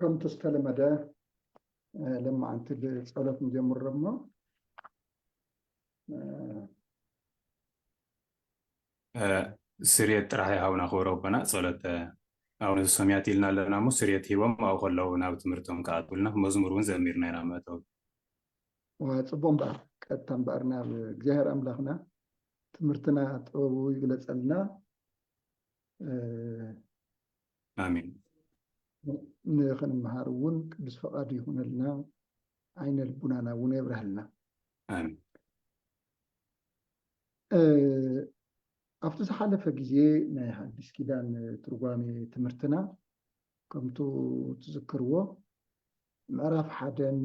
ከምቲ ዝተለመደ ለማዓንቲ ብፀሎት ንጀምሮ እሞ ስርየት ጥራሕ ይሃቡና ክብረ ኣቦና ፀሎት ኣቡነ ዘሰማያት ኢልና ኣለና እሞ ስርየት ሂቦም ኣብኡ ከለዉ ናብ ትምህርቶም ክኣትውልና መዝሙር እውን ዘሚርና ኢና መእተዊ ፅቡቅ እምበኣር ቀጥታ እምበኣር ናብ እግዚኣብሔር ኣምላኽና ትምህርትና ጥበቡ ይግለፀልና ኣሜን ንክንምሃር እውን ቅዱስ ፈቃዱ ይኹነልና ዓይነ ልቡናና እውን የብረሃልና ኣብቲ ዝሓለፈ ግዜ ናይ ሓዲስ ኪዳን ትርጓሜ ትምህርትና ከምቱ ትዝክርዎ ምዕራፍ ሓደን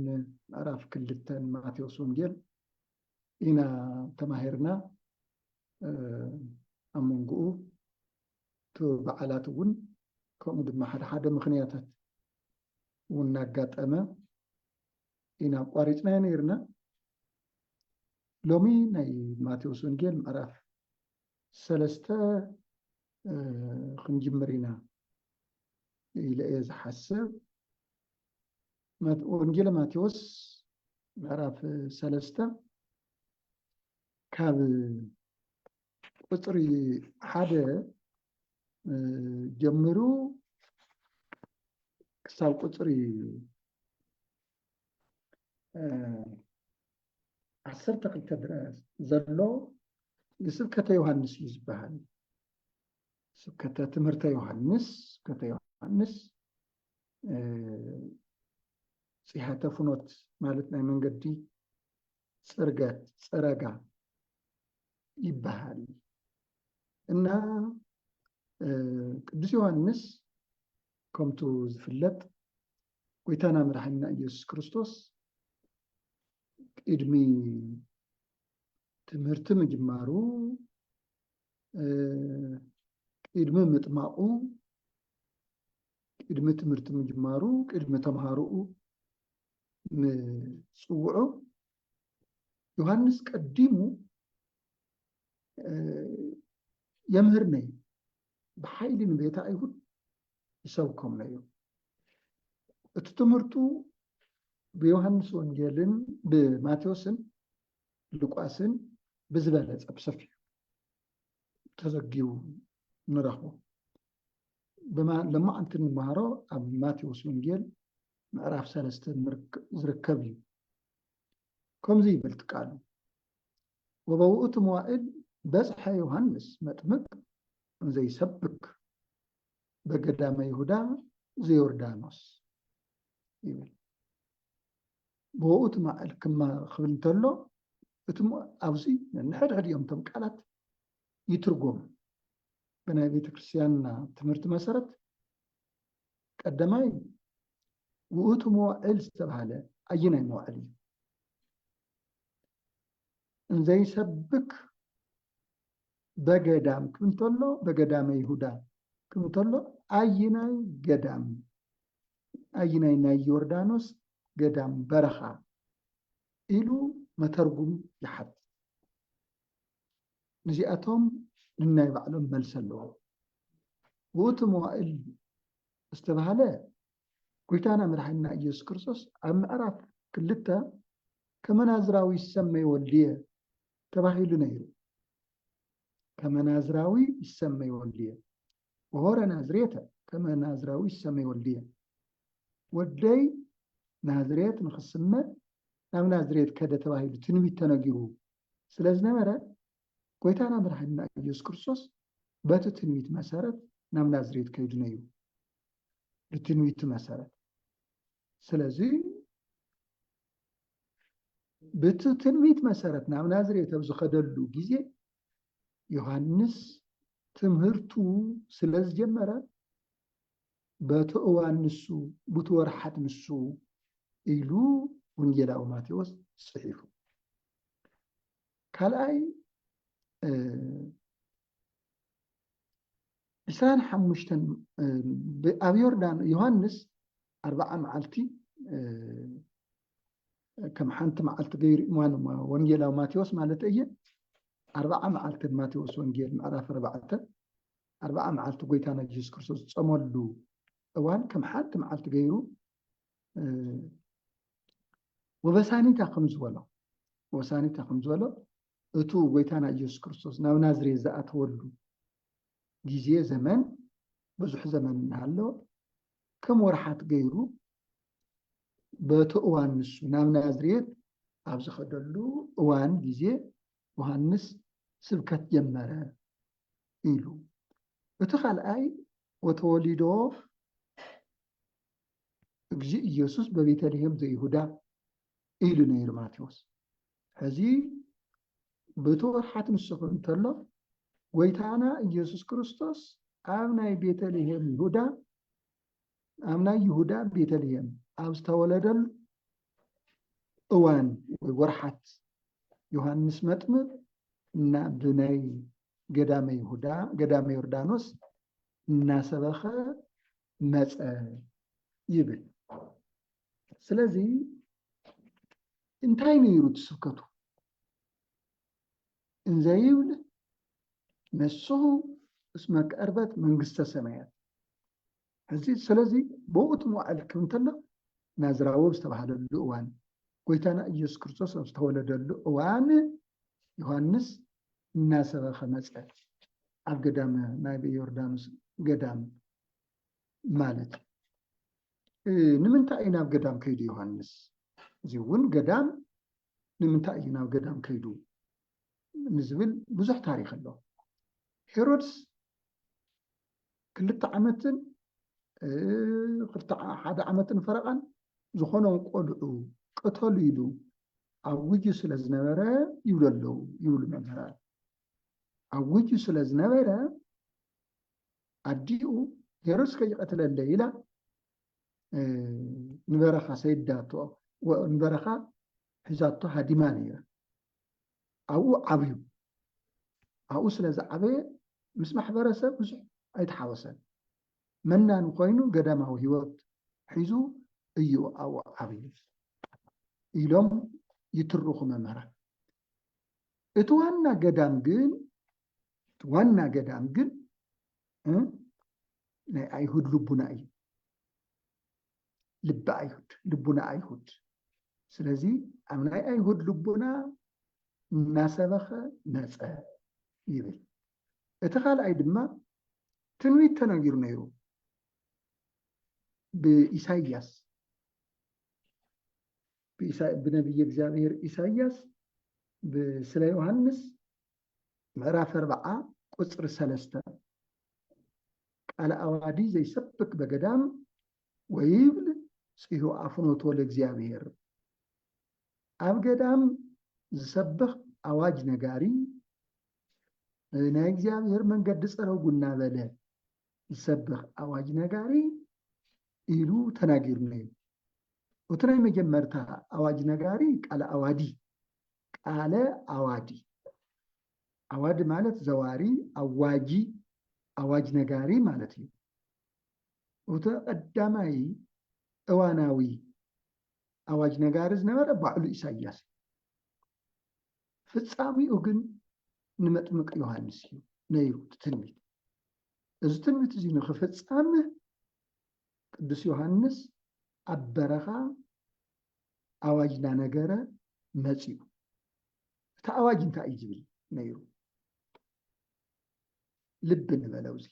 ምዕራፍ ክልተን ማቴዎስ ወንጌል ኢና ተማሂርና ኣብ መንጎኡ እቲ በዓላት እውን ከምኡ ድማ ሓደ ሓደ ምክንያታት እውን እናጋጠመ ኢና ኣቋሪፅናዮ ነይርና ሎሚ ናይ ማቴዎስ ወንጌል ምዕራፍ ሰለስተ ክንጅምር ኢና ኢለ እየ ዝሓስብ ወንጌል ማቴዎስ ምዕራፍ ሰለስተ ካብ ቁፅሪ ሓደ ጀምሩ ክሳብ ቁፅሪ ዓሰርተ ክልተ ድረስ ዘሎ ንስብከተ ዮሃንስ እዩ ዝበሃል ስብከተ ትምህርተ ዮሃንስ ስብከተ ዮሃንስ ፅሔተ ፍኖት ማለት ናይ መንገዲ ፅርገት ፅረጋ ይበሃል እና ቅዱስ ዮሐንስ ከምቱ ዝፍለጥ ጎይታና መድሓኒና ኢየሱስ ክርስቶስ ቅድሚ ትምህርቲ ምጅማሩ ቅድሚ ምጥማቑ ቅድሚ ትምህርቲ ምጅማሩ ቅድሚ ተምሃሮኡ ምፅውዑ ዮሃንስ ቀዲሙ የምህር ነዩ ብሓይሊ ንቤተ ኣይሁድ ይሰብኮም ነዩ እቲ ትምህርቱ ብዮሃንስ ወንጌልን ብማቴዎስን ሉቃስን ብዝበለፀ ብሰፊሑ ተዘጊቡ ንረኽቦ ድማ ለማዕንቲ ንመሃሮ ኣብ ማቴዎስ ወንጌል ምዕራፍ ሰለስተ ዝርከብ እዩ ከምዚ ይበልቲ ቃሉ ወበውእቱ መዋእል በጽሐ ዮሃንስ መጥምቅ ዘይሰብክ በገዳመ ይሁዳ ዘዮርዳኖስ ይብል ብወኡት ማእል ክማ ክብል እንተሎ እቲ ኣብዚ ንሕድሕድ እዮም እቶም ቃላት ይትርጎም። ብናይ ቤተ ክርስቲያንና ትምህርቲ መሰረት ቀዳማይ ውእቱ መዋዕል ዝተባሃለ ኣየናይ መዋዕል እዩ? እንዘይሰብክ በገዳም ክም ተሎ በገዳመ ይሁዳ ክም ተሎ ኣይናይ ገዳም ኣይናይ ናይ ዮርዳኖስ ገዳም በረኻ ኢሉ መተርጉም ይሓት ንዚኣቶም ንናይ ባዕሎም መልሲ ኣለዎም። ውእቱ መዋእል ዝተባህለ ጎይታና መድሓኒና ኢየሱስ ክርስቶስ ኣብ ምዕራፍ ክልተ ከመናዝራዊ ይሰመይ ወልድየ ተባሂሉ ነይሩ። ከመናዝራዊ ይሰመይ ወልድየ ወሆረ ናዝሬተ ከመናዝራዊ ይሰመይ ወልድየ ወደይ ናዝሬት ንክስመ ናብ ናዝሬት ከደ ተባሂሉ ትንቢት ተነጊሩ ስለ ዝነበረ ጎይታና መድሓኒና ኢየሱስ ክርስቶስ በቲ ትንቢት መሰረት ናብ ናዝሬት ከይዱ ነዩ ብትንቢቱ መሰረት ስለዚ ብቲ ትንቢት መሰረት ናብ ናዝሬት ኣብ ዝኸደሉ ግዜ ዮሃንስ ትምህርቱ ስለ ዝጀመረ በቲ እዋን ንሱ፣ ቡቲ ወርሓት ንሱ ኢሉ ወንጌላዊ ማቴዎስ ጽሒፉ። ካልኣይ ዕስራን ሓሙሽተን ኣብ ዮርዳኖ ዮሃንስ ኣርባዓ መዓልቲ ከም ሓንቲ መዓልቲ ገይሩ እዋን ወንጌላዊ ማቴዎስ ማለት እየ ኣርባዓ መዓልቲ ማቴዎስ ወንጌል ምዕራፍ ኣርባዕተ ኣርብዓ መዓልቲ ጎይታና የሱስ ክርስቶስ ዝጸመሉ እዋን ከም ሓንቲ መዓልቲ ገይሩ ወበሳኒታ ከም ዝበሎ ወሳኒታ ከም ዝበሎ እቱ ጎይታና ኢየሱስ ክርስቶስ ናብ ናዝሬት ዝኣተወሉ ግዜ ዘመን ብዙሕ ዘመን እናሃሎ ከም ወርሓት ገይሩ በቲ እዋን ንሱ ናብ ናዝሬት ኣብ ዝኸደሉ እዋን ግዜ ዮሃንስ ስብከት ጀመረ ኢሉ እቲ ካልኣይ ወተወሊዶ እግዚእ ኢየሱስ በቤተልሔም ዘይሁዳ ኢሉ ነይሩ ማቴዎስ ሕዚ ብተወርሓት ንስኹ እንተሎ ጎይታና ኢየሱስ ክርስቶስ ኣብ ናይ ቤተልሔም ይሁዳ ኣብ ናይ ይሁዳ ቤተልሔም ኣብ ዝተወለደሉ እዋን ወይ ወርሓት ዮሃንስ መጥምቕ ናብ ናይ ገዳመ ይሁዳ ገዳመ ዮርዳኖስ እናሰበኸ መፀ ይብል። ስለዚ እንታይ ነይሩ እቲ ስብከቱ? እንዘይብል ንስኹ እስመ ቀርበት መንግስተ ሰማያት እዚ ስለዚ ብኡ ትመውዓል ክብ እንተሎ ናዝራዊ ዝተባሃለሉ እዋን ጎይታና ኢየሱስ ክርስቶስ ኣብ ዝተወለደሉ እዋን ዮሐንስ እናሰበኸ መፀ ኣብ ገዳም ናይ ዮርዳኖስ ገዳም ማለት እዩ ንምንታይ እዩ ናብ ገዳም ከይዱ ዮሐንስ እዚ እውን ገዳም ንምንታይ እዩ ናብ ገዳም ከይዱ ንዝብል ብዙሕ ታሪክ ኣሎ። ሄሮድስ ክልተ ዓመትን ሓደ ዓመትን ፈረቓን ዝኾኖ ቆልዑ ቅተሉ ኢሉ ኣውጁ ስለ ዝነበረ ይብሉ ኣለዉ ይብሉ መምህራን ኣውጁ ስለ ዝነበረ ኣዲኡ ሄሮድስ ከይቀትለለ ኢላ ንበረኻ ሰይዳቶ ንበረኻ ሒዛቶ ሃዲማ ነይራ ኣብኡ ዓብዩ ኣብኡ ስለ ዝዓበየ ምስ ማሕበረሰብ ብዙሕ ኣይተሓወሰን መናን ኮይኑ ገዳማዊ ሂወት ሒዙ እዩ ኣብኡ ዓብዩ ኢሎም ይትርኹ መምህራን እቲ ዋና ገዳም ግን ዋና ገዳም ግን ናይ ኣይሁድ ልቡና እዩ ልቢ ኣይሁድ ልቡና ኣይሁድ ስለዚ ኣብ ናይ ኣይሁድ ልቡና እናሰበኸ መፀ ይብል እቲ ካልኣይ ድማ ትንቢት ተነጊሩ ነይሩ ብኢሳይያስ ብነቢይ እግዚኣብሔር ኢሳይያስ ስለ ዮሃንስ ምዕራፍ ኣርብዓ ቁጽሪ ሰለስተ ቃለ ኣዋዲ ዘይሰብክ በገዳም ወይብል ጽሁ ኣፍኖቶ ለእግዚኣብሔር ኣብ ገዳም ዝሰብኽ ኣዋጅ ነጋሪ ናይ እግዚኣብሔር መንገዲ ፀረጉ እናበለ ዝሰብኽ ኣዋጅ ነጋሪ ኢሉ ተናጊሩና እዩ እቲ ናይ መጀመርታ ኣዋጅ ነጋሪ ቃል ኣዋዲ ቃለ ኣዋዲ፣ ኣዋዲ ማለት ዘዋሪ፣ ኣዋጂ፣ ኣዋጅ ነጋሪ ማለት እዩ። እቶ ቀዳማይ እዋናዊ ኣዋጅ ነጋሪ ዝነበረ ባዕሉ ኢሳያስ እዩ። ፍጻሚኡ ግን ንመጥምቅ ዮሃንስ እዩ ነይሩ እቲ ትንቢት። እዚ ትንቢት እዚ ንክፍጸም ቅዱስ ዮሃንስ ኣብ በረኻ ኣዋጅ እናነገረ መፂኡ። እቲ ኣዋጅ እንታይ እዩ ዝብል ነይሩ? ልቢ ንበል ኣብዚ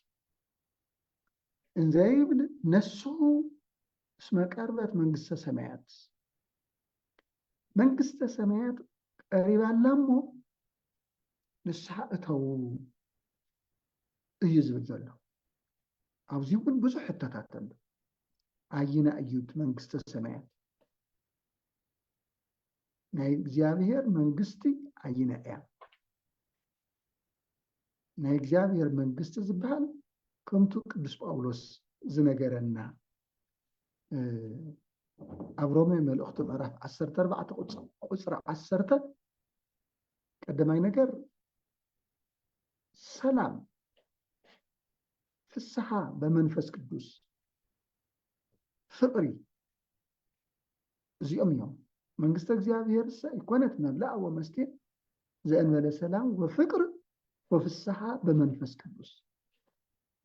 እንዘይብል ነሱ እስመ ቀርበት መንግስተ ሰማያት መንግስተ ሰማያት ቀሪባ ኣላ እሞ ንስሓ እተዉ እዩ ዝብል ዘሎ። ኣብዚ እውን ብዙሕ ሕቶታት ኣሎ። ኣየናይ እዩ እቲ መንግስተ ሰማያት? ናይ እግዚኣብሔር መንግስቲ ኣየናይ እያ? ናይ እግዚኣብሔር መንግስቲ ዝበሃል ከምቱ ቅዱስ ጳውሎስ ዝነገረና ኣብ ሮሜ መልእኽቱ ምዕራፍ ዓሰርተ ኣርባዕተ ቁፅሪ ዓሰርተ ቀዳማይ ነገር ሰላም ፍስሓ በመንፈስ ቅዱስ ፍቕሪ እዚኦም እዮም መንግስተ እግዚኣብሔር ሰ ይኮነት መብላዕ ወመስቴ ዘእንበለ ሰላም ወፍቅር ወፍስሓ በመንፈስ ቅዱስ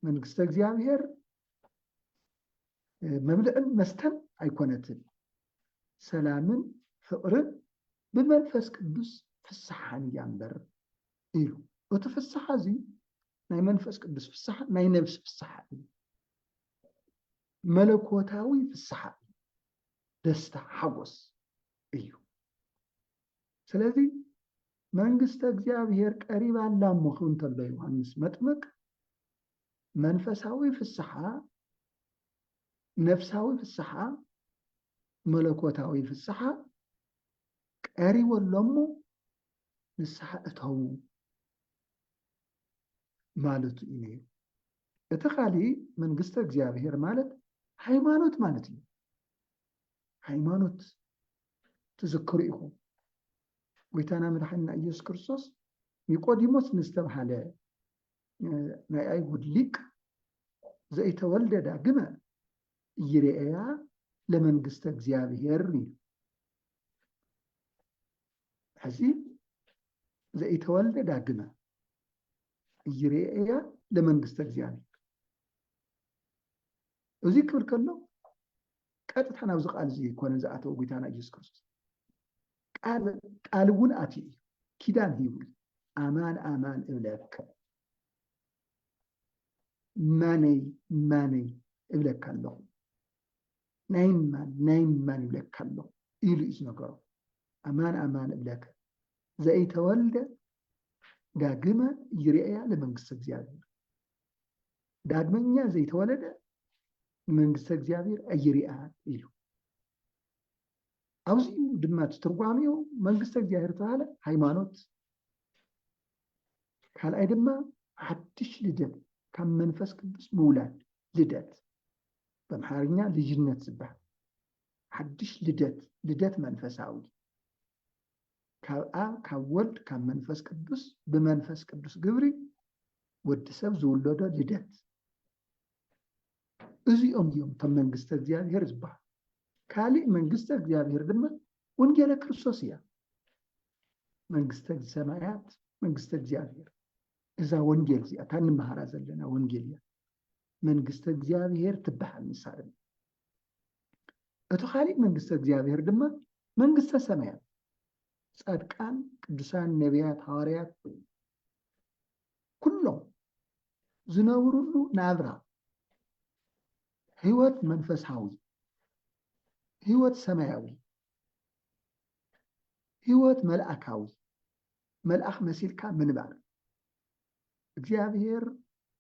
መንግስተ እግዚኣብሔር መብልዕን መስተን ኣይኮነትን ሰላምን ፍቅርን ብመንፈስ ቅዱስ ፍስሓን እያ እምበር ኢሉ። እቲ ፍስሓ እዚ ናይ መንፈስ ቅዱስ ፍስሓ፣ ናይ ነብሲ ፍስሓ እዩ። መለኮታዊ ፍስሓ እዩ። ደስታ ሓጎስ እዩ። ስለዚ መንግስተ እግዚኣብሔር ቀሪባ ኣላ እሞ ክብል እንተሎ ዮሃንስ መጥምቅ መንፈሳዊ ፍስሓ፣ ነፍሳዊ ፍስሓ፣ መለኮታዊ ፍስሓ ቀሪቡ ኣሎ እሞ ንስሓ እተዉ ማለቱ እዩ ነይሩ። እቲ ካሊእ መንግስተ እግዚኣብሔር ማለት ሃይማኖት ማለት እዩ። ሃይማኖት ትዝክሩ ኢኹም ጎይታና መድሓኒና ኢየሱስ ክርስቶስ ኒቆዲሞስ ንዝተባሃለ ናይ ኣይሁድ ሊቅ ዘይተወልደ ዳግመ እይርኤያ ለመንግስተ እግዚኣብሔር እዩ ሕዚ ዘኢተወልደ ዳግመ እይርኤያ ለመንግስተ እግዚኣብሔር እዚ ክብል ከሎ ቀጥታ ናብዚ ቃል እዚ ኮነ ዝኣተወ ጎይታና ኢየሱስ ክርስቶስ ቃል እውን ኣትዩ እዩ ኪዳን ሂቡ ኣማን ኣማን እብለካ ማነይ ማነይ እብለካ ኣለኹ ናይ ማን ናይ ማን ይብለካ ኣሎ ኢሉ እዩ ዝነገሮ። ኣማን ኣማን እብለከ ዘኢተወልደ ዳግመ ይርኤያ ለመንግስተ እግዚኣብሔር ዳግመኛ ዘይተወለደ ንመንግስተ እግዚኣብሔር ኣይርኣን ኢሉ ኣብዚ ድማ እቲ ትርጓሜኡ መንግስተ እግዚኣብሔር ተባሃለ ሃይማኖት ካልኣይ ድማ ሓድሽ ልደት ካብ መንፈስ ቅዱስ ምውላድ ልደት በምሓርኛ ልጅነት ዝበሃል ሓድሽ ልደት ልደት መንፈሳዊ ካብ ኣብ ካብ ወልድ ካብ መንፈስ ቅዱስ ብመንፈስ ቅዱስ ግብሪ ወዲ ሰብ ዝውለዶ ልደት እዚኦም እዮም እቶም መንግስተ እግዚኣብሔር ዝበሃል ካሊእ መንግስተ እግዚኣብሔር ድማ ወንጌለ ክርስቶስ እያ መንግስተ ሰማያት መንግስተ እግዚኣብሔር እዛ ወንጌል እዚኣ እታ እንመሃራ ዘለና ወንጌል እያ መንግስተ እግዚኣብሔር ትበሃል ንሳ ድማ እቲ ካሊእ መንግስተ እግዚኣብሔር ድማ መንግስተ ሰማያት ፃድቃን ቅዱሳን ነቢያት ሃዋርያት ኩሎም ዝነብሩሉ ናብራ ህይወት መንፈሳዊ ህይወት ሰማያዊ ህይወት መልኣካዊ መልኣኽ መሲልካ ምንባር እግዚኣብሔር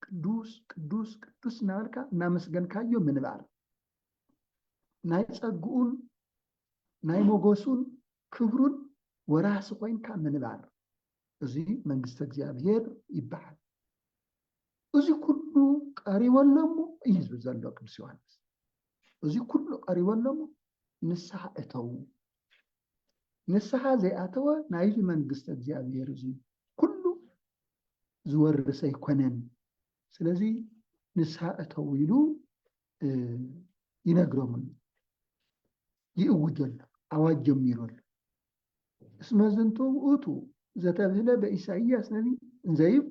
ቅዱስ ቅዱስ ቅዱስ እናበልካ እናመስገንካዮ ምንባር ናይ ፀግኡን ናይ ሞገሱን ክብሩን ወራሲ ኮይንካ ምንባር እዚ መንግስቲ እግዚኣብሔር ይበሃል። እዚ ኩሉ ቀሪቦ ኣለሞ እዩ ዝብል ዘሎ ቅዱስ ዮሃንስ። እዚ ኩሉ ቀሪቦ ኣለሞ ንስሓ እተዉ ንስሓ ዘይኣተወ ናይዚ መንግስተ እግዚኣብሔር እዚ ኩሉ ዝወርስ ኣይኮነን ስለዚ ንስሓ እተው ኢሉ ይነግሮም ኣሎ ይእውጅ ኣሎ ኣዋጅ ጀሚሩ ኣሎ እስመ ዝንቱ ውእቱ ዘተብህለ በኢሳይያስ ነቢይ እንዘይብ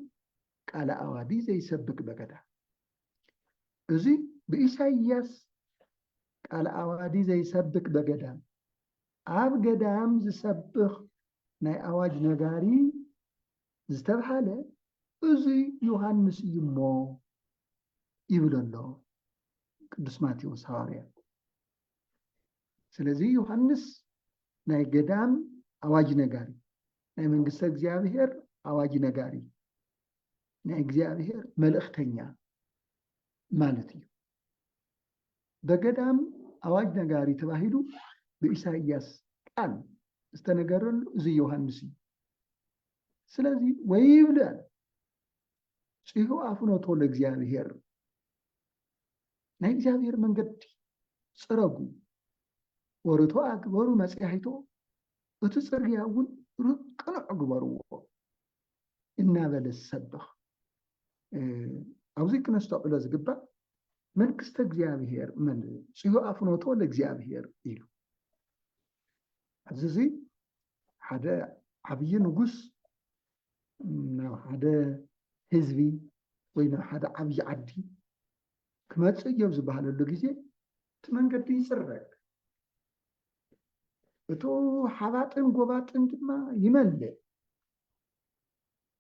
ቃለ ኣዋዲ ዘይሰብክ በገዳ እዚ ብኢሳይያስ ቃል ኣዋዲ ዘይሰብክ በገዳም ኣብ ገዳም ዝሰብኽ ናይ ኣዋጅ ነጋሪ ዝተብሃለ እዚ ዮሃንስ እዩሞ ይብል ኣሎ ቅዱስ ማቴዎስ ሃዋርያ። ስለዚ ዮሃንስ ናይ ገዳም ኣዋጅ ነጋሪ ናይ መንግስተ እግዚኣብሔር ኣዋጅ ነጋሪ ናይ እግዚኣብሔር መልእክተኛ ማለት እዩ። በገዳም ኣዋጅ ነጋሪ ተባሂሉ ብኢሳይያስ ቃል ዝተነገረሉ እዚ ዮሃንስ እዩ። ስለዚ ወይብለ ፂሑ ኣፍኖቶ ለእግዚኣብሔር ናይ እግዚኣብሔር መንገዲ ፅረጉ ወርቶ ኣግበሩ መፅያሒቶ እቲ ፅርግያ እውን ቅኑዕ ግበርዎ እናበለ ዝሰብኽ ኣብዚ ክነስተውዕሎ ዝግባእ መንግስተ እግዚኣብሔር መን ጽዮ ኣፍኖቶ ለእግዚኣብሔር ኢሉ ኣብዚ እዚ ሓደ ዓብዪ ንጉስ ናብ ሓደ ህዝቢ ወይ ናብ ሓደ ዓብዪ ዓዲ ክመፅእ እዮ ዝበሃለሉ ግዜ እቲ መንገዲ ይፅረግ እቱ ሓባጥን ጎባጥን ድማ ይመልእ።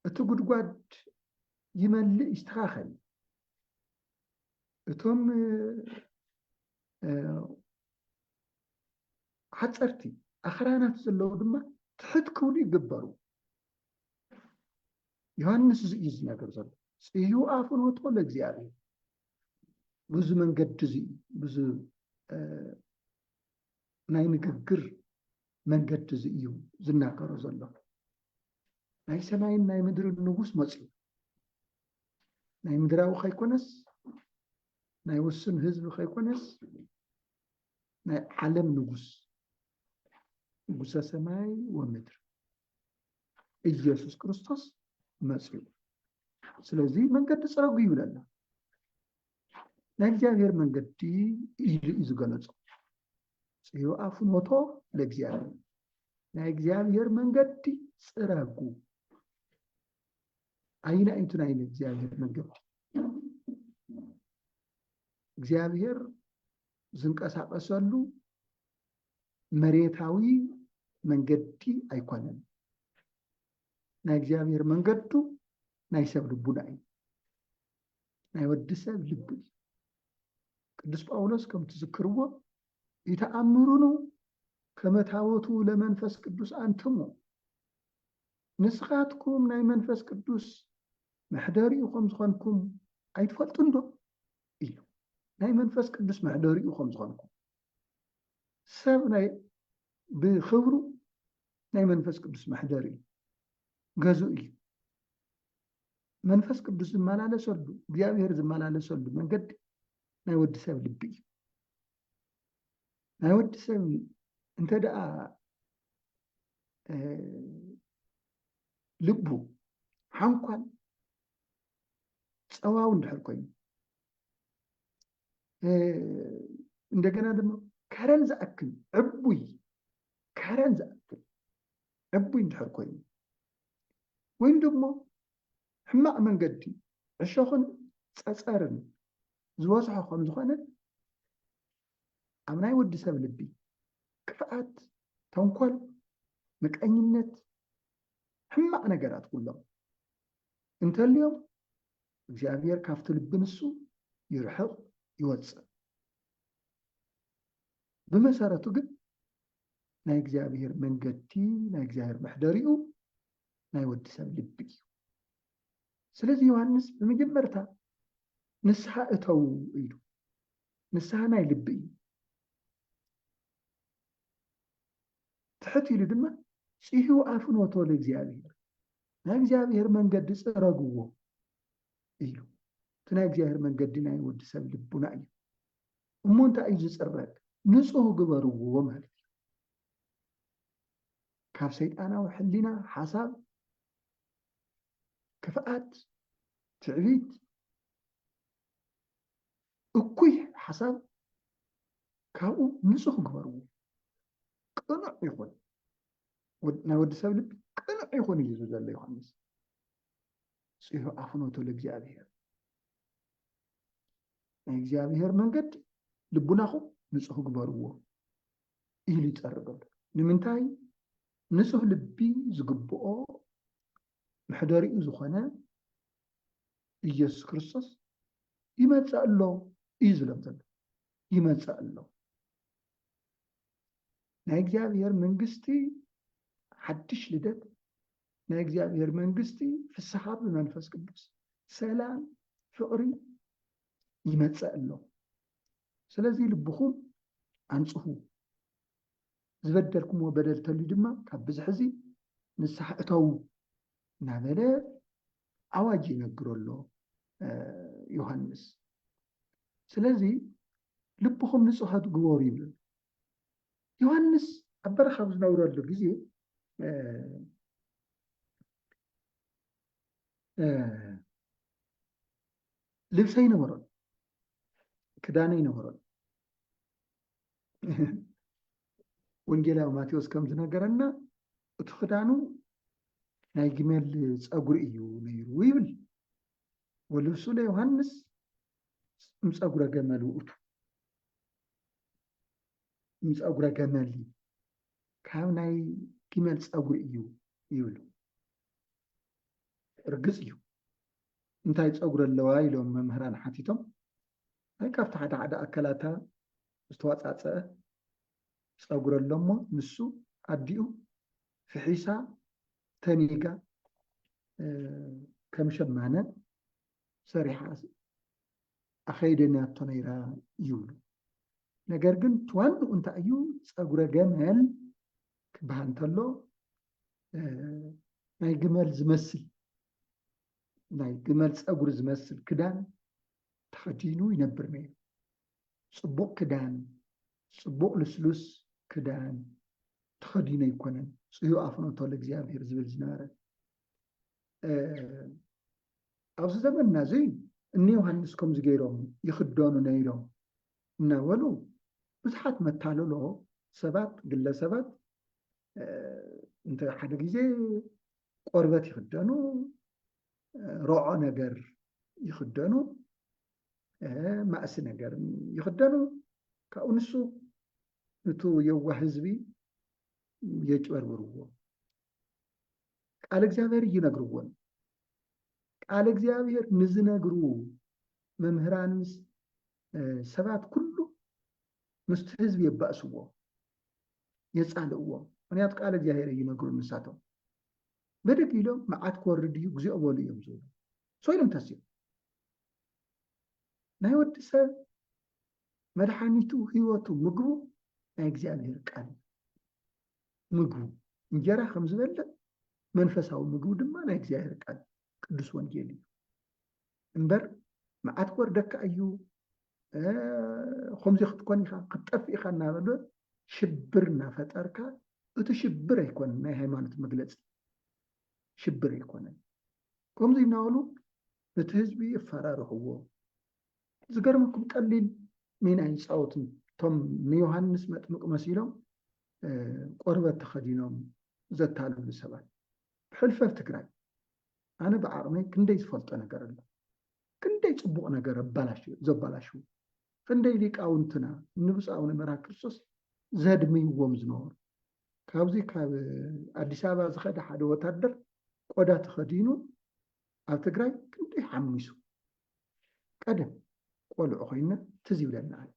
እቲ ጉድጓድ ይመልእ ይስተኻኸል። እቶም ሓፀርቲ ኣኽራናት ዘለዉ ድማ ትሕት ክብሉ ይግበሩ። ዮሃንስ እዚ እዩ ዝነገር ዘሎ ፅዩ ኣፍኖቶ ለእግዚኣብሔር ብዙ መንገዲ እዚ ብዙ ናይ ንግግር መንገዲ እዚ እዩ ዝናገሮ ዘሎ። ናይ ሰማይን ናይ ምድርን ንጉስ መፅኡ ናይ ምድራዊ ከይኮነስ ናይ ውሱን ህዝቢ ከይኮነስ ናይ ዓለም ንጉስ ንጉሰ ሰማይ ወምድር ኢየሱስ ክርስቶስ መፅኡ። ስለዚ መንገዲ ፅረጉ ይብለና። ናይ እግዚኣብሔር መንገዲ ኢሉ እዩ ዝገለጾ ጽዩኣ ፍኖቶ ለእግዚኣብሔር ናይ እግዚኣብሔር መንገዲ ጽረጉ ኣይና ኢንቱ ናይ እግዚኣብሔር መንገዲ እግዚኣብሔር ዝንቀሳቀሰሉ መሬታዊ መንገዲ ኣይኮነን ናይ እግዚኣብሔር መንገዱ ናይ ሰብ ልቡና እዩ ናይ ወዲ ሰብ ልቢ እዩ ቅዱስ ጳውሎስ ከም ትዝክርዎ ይተኣምሩኑ ከመታወቱ ለመንፈስ ቅዱስ ኣንትሙ ንስኻትኩም ናይ መንፈስ ቅዱስ መሕደሪኡ ከም ዝኾንኩም ኣይትፈልጡን ዶ ኢሉ ናይ መንፈስ ቅዱስ መሕደሪኡ ከም ዝኾንኩም ሰብ ናይ ብክብሩ ናይ መንፈስ ቅዱስ መሕደሪ እዩ ገዙእ እዩ መንፈስ ቅዱስ ዝመላለሰሉ እግዚኣብሔር ዝመላለሰሉ መንገዲ ናይ ወዲ ሰብ ልቢ እዩ ናይ ወዲ ሰብ እንተ ደኣ ልቡ ሓንኳን ፀዋው እንድሕር ኮይኑ እንደገና ድማ ከረን ዝኣክል ዕቡይ ከረን ዝኣክል ዕቡይ እንድሕር ኮይኑ ወይም ድሞ ሕማቕ መንገዲ ዕሾኽን ጸጸርን ዝበዝሖ ከም ዝኾነ ኣብ ናይ ወዲ ሰብ ልቢ ክፍኣት፣ ተንኮል፣ ምቀኝነት፣ ሕማቕ ነገራት ኩሎም እንተልዮም እግዚኣብሔር ካብቲ ልቢ ንሱ ይርሕቕ ይወጽእ። ብመሰረቱ ግን ናይ እግዚኣብሔር መንገዲ ናይ እግዚኣብሔር መሕደሪኡ ናይ ወዲ ሰብ ልቢ እዩ ስለዚ ዮሃንስ ብመጀመርታ ንስሓ እተዉ ኢሉ ንስሓ ናይ ልቢ እዩ ትሕት ኢሉ ድማ ፅሂ ኣፍኖቶ ለእግዚኣብሔር ናይ እግዚኣብሔር መንገዲ ፅረግዎ ኢሉ እቲ ናይ እግዚኣብሔር መንገዲ ናይ ወዲ ሰብ ልቡና እዩ እሞ እንታይ እዩ ዝጽረግ ንጹህ ግበርዎ ማለት እዩ ካብ ሰይጣናዊ ሕሊና ሓሳብ ክፍኣት ትዕቢት እኩይ ሓሳብ ካብኡ ንፁህ ግበርዎ ቅኑዕ ይኹን ናይ ወዲ ሰብ ልቢ ቅኑዕ ይኹን እዩ ዘሎ ዮሃንስ ጽሑ ኣፍኖቶ ለእግዚኣብሔር ናይ እግዚኣብሔር መንገዲ ልቡናኹም ንፁህ ግበርዎ ኢሉ ይፀርብ ኣሎ ንምንታይ ንፁህ ልቢ ዝግብኦ መሕደሪኡ ዝኾነ ኢየሱስ ክርስቶስ ይመፅእ ኣሎ እዩ ዝብሎም ዘሎ ይመፅእ ኣሎ ናይ እግዚኣብሔር መንግስቲ ሓድሽ ልደት ናይ እግዚኣብሔር መንግስቲ ፍስሓ ብመንፈስ ቅዱስ ሰላም ፍቕሪ ይመፀእ ኣሎ ስለዚ ልብኹም ኣንፅሁ ዝበደልኩምዎ በደል ተልዩ ድማ ካብ ብዝሕ እዚ ንስሓ እተዉ እናበለ ኣዋጅ ይነግሮ ኣሎ ዮሃንስ ስለዚ ልብኹም ንፁሃት ግበሩ ይብል ዮሃንስ ኣብ በረኻ ኣብ ዝነብረሉ ግዜ ልብሰ ይነበሮን ክዳነ ይነበሮን ወንጌላዊ ማቴዎስ ከም ዝነገረና እቲ ክዳኑ ናይ ግመል ፀጉሪ እዩ ነይሩ ይብል ወልብሱ ለዮሃንስ እምፀጉረ ገመል ውእቱ ንፀጉረ ገመል እዩ ካብ ናይ ግመል ፀጉሪ እዩ ይብሉ ርግፅ እዩ እንታይ ፀጉሪ ኣለዋ ኢሎም መምህራን ሓቲቶም ናይ ካብቲ ሓደ ሓደ ኣካላታ ዝተዋፃፀአ ፀጉሪ ኣሎሞ ንሱ ኣዲኡ ፍሒሳ ተኒጋ ከም ሸማነ ሰሪሓ ኣኸይደናቶ ነይራ ይብሉ። ነገር ግን እቲ ዋንኡ እንታይ እዩ ፀጉረ ገመል ክበሃል እንተሎ ናይ ግመል ዝመስል ናይ ግመል ፀጉሪ ዝመስል ክዳን ተኸዲኑ ይነብር ነይሩ። ፅቡቕ ክዳን ፅቡቕ ልስሉስ ክዳን ተኸዲኑ ኣይኮነን ፅዩ ኣፍኖቶ ለእግዚኣብሔር ዝብል ዝነበረ ኣብዚ ዘመንና እዚ እኒ ዮሃንስ ከምዚ ገይሮም ይኽደኑ ነይሮም እናበሉ ብዙሓት መታለሎ ሰባት ግለሰባት እንተ ሓደ ግዜ ቆርበት ይኽደኑ ሮዖ ነገር ይኽደኑ ማእሲ ነገር ይኽደኑ ካብኡ ንሱ ንቱ የዋህ ህዝቢ የጭበርብርዎ ቃል እግዚኣብሔር እይነግርዎን ቃል እግዚኣብሔር ንዝነግሩ መምህራን ሰባት ኩሉ ምስቲ ህዝቢ የባእስዎ የፃልእዎ ምክንያቱ ቃል እግዚኣብሔር እይነግሩ ንሳቶም ብድግ ኢሎም መዓት ክወርድ እዩ እግዚኦ በሉ እዮም ዝብሉ ሶይሎም ተስዮ ናይ ወዲ ሰብ መድሓኒቱ ህይወቱ ምግቡ ናይ እግዚኣብሔር ቃል እዩ ምግቡ እንጀራ ከም ዝበልዕ መንፈሳዊ ምግቡ ድማ ናይ እግዚኣብሔር ቃል ቅዱስ ወንጌል እዩ እምበር መዓት ወርደካ እዩ ከምዚ ክትኮን ኢኻ ክትጠፍ ኢኻ እናበለ ሽብር እናፈጠርካ እቲ ሽብር ኣይኮነን ናይ ሃይማኖት መግለፂ ሽብር ኣይኮነን ከምዚ እናበሉ ነቲ ህዝቢ የፈራርሕዎ ዝገርመኩም ቀሊል ሚና ኣይፃወቱን እቶም ንዮሃንስ መጥምቅ መሲሎም ቆርበት ተኸዲኖም ዘታልሉ ሰባት ብሕልፈት ትግራይ ኣነ ብዓቕመይ ክንደይ ዝፈልጦ ነገር ኣሎ ክንደይ ፅቡቕ ነገር ዘባላሽው ክንደይ ሊቃውንትና ንብፃውነ መርሃ ክርስቶስ ዘድምይዎም ዝነበሩ ካብዚ ካብ ኣዲስ ኣበባ ዝኸደ ሓደ ወታደር ቆዳ ተኸዲኑ ኣብ ትግራይ ክንደይ ሓሚሱ ቀደም ቆልዑ ኮይና ትዝ ይብለና ኣሎ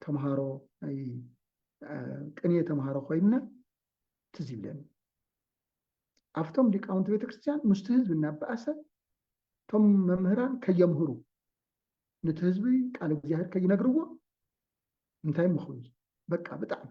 ተምሃሮ ናይ ቅንየ ተምሃሮ ኮይና ትዝ ይብለኒ ኣብቶም ሊቃውንቲ ቤተክርስትያን ምስቲ ህዝቢ እናበኣሰ እቶም መምህራን ከየምህሩ ነቲ ህዝቢ ቃል እግዚኣብሔር ከይነግርዎ እንታይ ምኽኑ በቃ ብጣዕሚ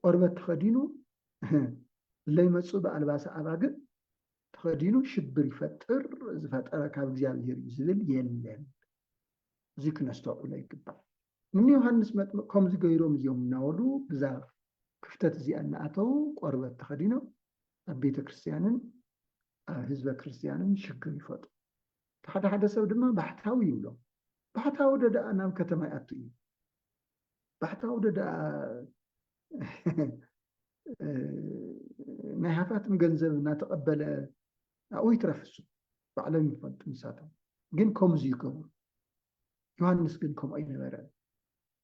ቆርበት ተኸዲኑ ለይመጽኡ ብኣልባሰ ኣባግዕ ተኸዲኑ ሽብር ይፈጥር ዝፈጠረ ካብ እግዚኣብሔር እዩ ዝብል የለን። እዚ ክነስተውዕሎ ይግባእ። እኒ ዮሃንስ መጥምቅ ከምዚ ገይሮም እዮም እናበሉ ብዛ ክፍተት እዚኣ እናኣተው ቆርበት ተኸዲኖም ኣብ ቤተ ክርስቲያንን ኣብ ህዝበ ክርስቲያንን ሽግር ይፈጥሩ። ሓደ ሓደ ሰብ ድማ ባሕታዊ ይብሎም። ባሕታዊ ደኣ ናብ ከተማ ይኣቱ እዩ። ባሕታዊ ዶ ደኣ ናይ ሃፋትም ገንዘብ እናተቐበለ ኣብኡ ይትረፍ እሱ ባዕሎም ይፈልጡ ንሳቶም ግን ከምዚ ይገብሩ ዮሃንስ ግን ከምኡ ኣይነበረ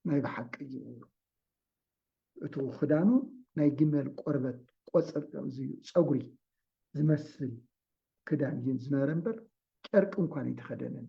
ናይ ብሓቂ እዩ እቲ ክዳኑ ናይ ግመል ቆርበት ቆፅር ፀጉሪ ዝመስል ክዳን እዩ ዝነበረ እምበር ጨርቂ እንኳን ኣይተኸደነን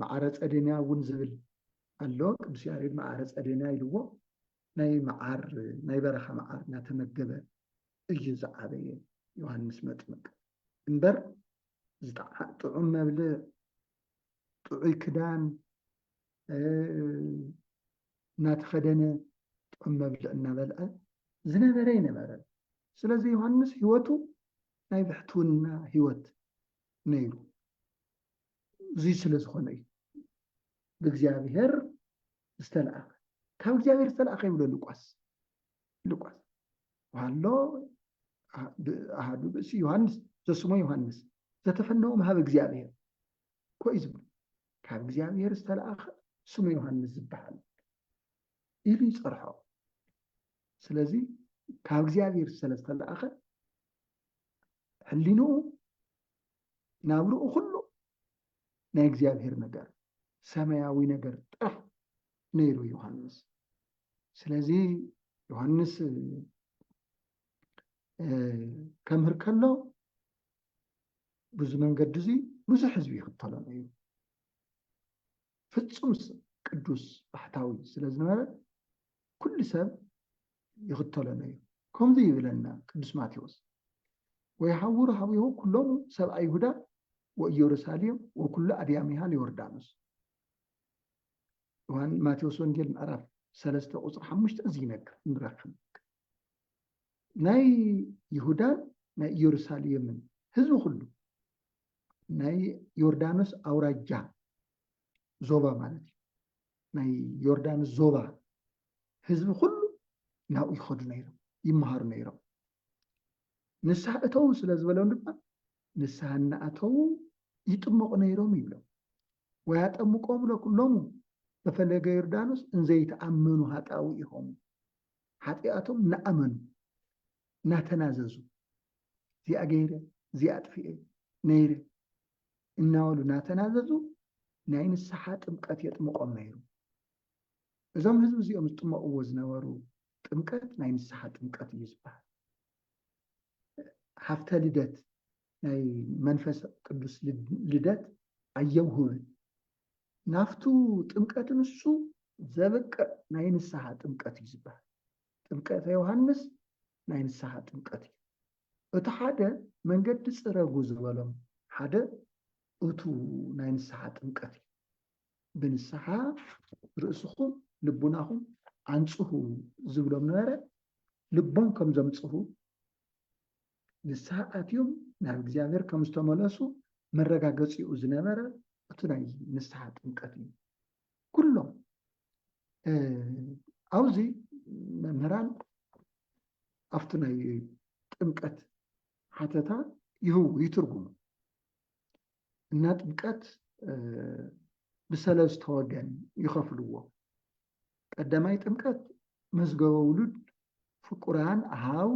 መዓረ ጸዴንያ እውን ዝብል ኣሎ። ቅዱስ ያሬድ መዓረ ጸዴንያ ኢልዎ ናይ መዓር ናይ በረኻ መዓር እናተመገበ እዩ ዝዓበየ ዮሃንስ መጥምቅ እምበር ጥዑም መብልዕ ጥዑይ ክዳን እናተኸደነ ጥዑም መብልዕ እናበልዐ ዝነበረ ይነበረን። ስለዚ ዮሃንስ ህይወቱ ናይ ብሕትውና ህይወት ነይሩ። እዙይ ስለ ዝኾነ እዩ ብእግዚኣብሔር ዝተለኣኸ ካብ እግዚኣብሔር ዝተለኣኸ ይብሎ ሉቃስ ሉቃስ ሃሎ ኣሃዱ ብእሲ ዮሃንስ ዘስሞ ዮሃንስ ዘተፈነዎም ሃብ እግዚኣብሔር ኮይ ዝብሉ ካብ እግዚኣብሔር ዝተለኣኸ ስሙ ዮሃንስ ዝበሃል ኢሉ ይፀርሖ ስለዚ ካብ እግዚኣብሔር ስለዝተለኣኸ ሕሊንኡ ናብርኡ ኩሉ ናይ እግዚኣብሔር ነገር ሰማያዊ ነገር ጥራሕ ነይሩ ዮሃንስ። ስለዚ ዮሃንስ ከምህር ከሎ ብዙ መንገዲ እዙይ ብዙሕ ህዝቢ ይኽተሎ ነይሩ። ፍጹም ቅዱስ ባሕታዊ ስለ ዝነበረ ኩሉ ሰብ ይኽተሎ ነይሩ። ከምዚ ይብለና ቅዱስ ማቴዎስ ወይሃውሩ ሀዊሆ ኩሎሙ ሰብ ኣይሁዳ ወኢየሩሳሌም ወኩሉ ኣድያሚሃ ለዮርዳኖስ ዮሐን ማቴዎስ ወንጌል ምዕራፍ ሰለስተ ቁፅሪ ሓሙሽተ እዚ ይነግር ንረክብ ናይ ይሁዳን ናይ ኢየሩሳሌምን ህዝቢ ኩሉ ናይ ዮርዳኖስ ኣውራጃ ዞባ ማለት እዩ ናይ ዮርዳኖስ ዞባ ህዝቢ ኩሉ ናብኡ ይኸዱ ነይሮም ይመሃሩ ነይሮም ንስሓ እተዉ ስለ ዝበሎም ድማ ንስሓ እናኣተዉ ይጥመቑ ነይሮም ይብሎም ወይ ኣጠምቆ ብሎ ኩሎሙ በፈለገ ዮርዳኖስ እንዘይተኣመኑ ሃጣዊ ኢኹም ሓጢኣቶም እናኣመኑ ናተናዘዙ እዚኣ ገይረ እዚኣ ኣጥፊኤ ነይረ እናበሉ ናተናዘዙ ናይ ንስሓ ጥምቀት የጥምቆም ነይሩ። እዞም ህዝቢ እዚኦም ዝጥመቕዎ ዝነበሩ ጥምቀት ናይ ንስሓ ጥምቀት እዩ ዝበሃል። ሃፍተ ልደት ናይ መንፈስ ቅዱስ ልደት ኣየውህብን ናፍቱ ጥምቀት ንሱ ዘብቅዕ ናይ ንስሓ ጥምቀት እዩ ዝበሃል ጥምቀተ ዮሃንስ ናይ ንስሓ ጥምቀት እዩ። እቲ ሓደ መንገዲ ጽረጉ ዝበሎም ሓደ እቱ ናይ ንስሓ ጥምቀት እዩ። ብንስሓ ርእስኹም ልቡናኹም ኣንጽሁ ዝብሎም ነበረ፣ ልቦም ከም ዘምጽሁ ንስሓ ኣትዮም ናብ እግዚኣብሔር ከም ዝተመለሱ መረጋገጺኡ ዝነበረ እቱ ናይ ንስሓ ጥምቀት እዩ። ኩሎም ኣብዚ መምህራን ኣብቲ ናይ ጥምቀት ሓተታ ይህቡ ይትርጉሙ እና ጥምቀት ብሰለስተ ወገን ይኸፍልዎ። ቀዳማይ ጥምቀት መዝገበ ውሉድ ፍቁራን ኣሃው